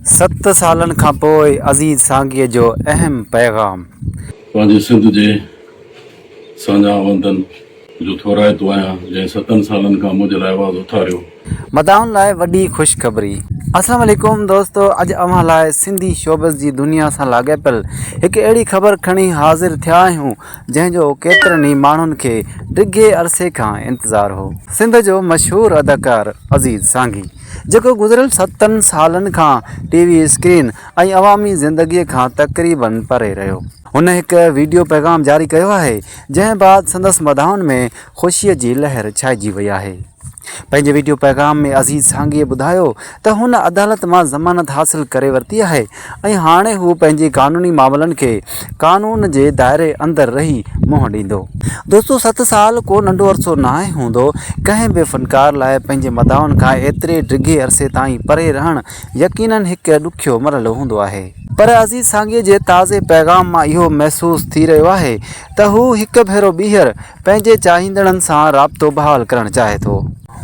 ست سالن کان پوء عزيز سانگيء جو اهم پيغام. پنهنجي سنڌ جي ساڃاهوندن جو ٿورائتو آهيان، جنهن ستن سالن کان منهنجي لاء آواز اٿاريو. مداحن لاء وڏي خوشخبري. السلام عليڪم دوستو اڄ اوهان لاء سنڌي شوبز جي دنيا سان لاڳاپيل هڪ اهڙي خبر کڻي حاضر ٿيا آهيون جنهن جو ڪيترن ئي ماڻهن کي ڊگهي عرصي کان انتظار هو سنڌ جو مشهور اداڪار عزيز سانگي جيڪو گذريل ستن سالن کان ٽي وي اسڪرين ۽ عوامي زندگي کان تقريباً پري رهيو. هن هڪ ويڊيو پيغام جاري ڪيو آهي، جنهن بعد سندس مداحن ۾ خوشي جي لهر ڇائجي وئي آهي. پنهنجي ويڊيو پيغام ۾ عزيز سانگيء ٻڌايو ته هن عدالت مان ضمانت حاصل ڪري ورتي آهي ۽ هاڻي هو پنهنجي قانوني معاملن کي قانون جي دائري اندر رهي منهن ڏيندو. دوستو ست سال ڪو ننڍو عرصو ناهي هوندو. ڪنهن به فنڪار لاء پنهنجي مداحن کان ايتري ڊگهي عرصي تائين پري رهڻ يقينن هڪ ڏکيو مرحلو هوندو آهي. پر عزيز سانگيء جي تازي پيغام مان اهو محسوس ٿي رهيو آهي ته هو هڪ ڀيرو ٻيهر پنهنجي چاهيندڙن سان رابطو بحال ڪرڻ چاهي ٿو.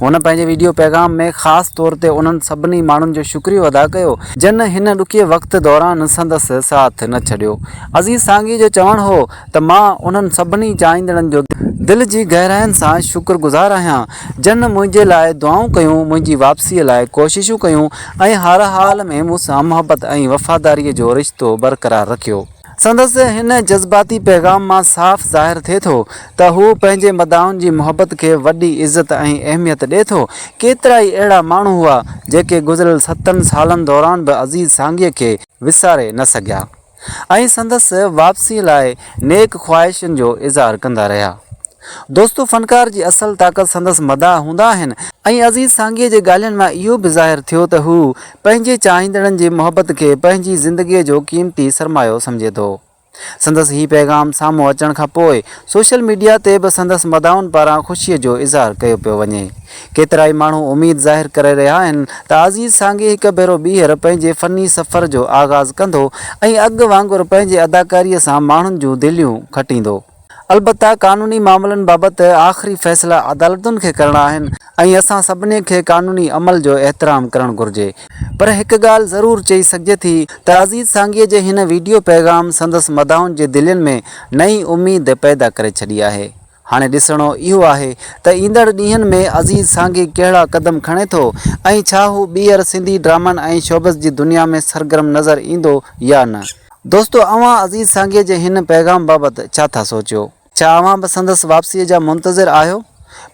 هن پنهنجي ويڊيو پيغام ۾ خاص طور تي انهن سڀني ماڻهن جو شڪريو ادا ڪيو جن هن ڏکي وقت دوران سندس ساٿ نه ڇڏيو. عزيز سانگي جو چوڻ هو ته مان انهن سڀني چاهيندڙن جو دل جي گهراين سان شڪر گذار آهيان جن منهنجي لاء دعائون ڪيون، منهنجي واپسي لاء ڪوششون ڪيون ۽ هر حال ۾ مون سان محبت ۽ وفاداري جو رشتو برقرار رکيو. سندس هن جذباتي پيغام مان صاف ظاهر ٿئي ٿو ته هو پنهنجي مداحن جي محبت کي وڏي عزت ۽ اهميت ڏئي ٿو. ڪيترائي اهڙا ماڻهو هئا جيڪي گذريل ستن سالن دوران به عزيز سانگيء کي وساري نه سگهيا ۽ سندس واپسيء لاء نيڪ خواهشن جو اظهار ڪندا رهيا. دوستو فنڪار جي اصل طاقت سندس مداح هوندا آهن ۽ عزيز سانگيء جي ڳالهين مان اهو به ظاهر ٿيو ته هو پنهنجي چاهيندڙن جي محبت کي پنهنجي زندگيء جو قيمتي سرمايو سمجهي ٿو. سندس هي پيغام سامهون اچڻ کان پوء سوشل ميڊيا تي به سندس مداحن پاران خوشيء جو اظهار ڪيو پيو وڃي. ڪيترائي ماڻهو اميد ظاهر ڪري رهيا آهن ته عزيز سانگي هڪ ڀيرو ٻيهر پنهنجي فني سفر جو آغاز ڪندو ۽ اڳ وانگر پنهنجي اداڪاريء سان ماڻهن جون دليون کٽيندو. البته قانوني معاملن بابت آخري فيصلا عدالتن کي ڪرڻا آهن ۽ اسان سڀني کي قانوني عمل جو احترام ڪرڻ گهرجي پر هڪ ڳالهه ضرور چئي سگهجي ٿي ته عزيز سانگيء جي هن ويڊيو پيغام سندس مداحن جي دلين ۾ نئين اميد پيدا ڪري ڇڏي آهي هاڻي ڏسڻو اهو آهي ته ايندڙ ڏينهن ۾ عزيز سانگي ڪهڙا قدم کڻي ٿو ۽ ڇا هو ٻيهر سنڌي ڊرامن ۽ شوبز جي دنيا ۾ سرگرم نظر ايندو يا نه. دوستو اوهان عزيز سانگي جي هن پيغام بابت ڇا ٿا سوچيو؟ ڇا اوهان به سندس واپسيء جا منتظر آهيو؟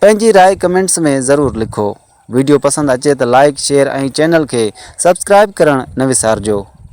پنهنجي راء ڪمينٽس ۾ ضرور لکو. ويڊيو پسند اچي ته لائيڪ، شيئر ۽ چينل کي سبسڪرائيب ڪرڻ نه وسارجو.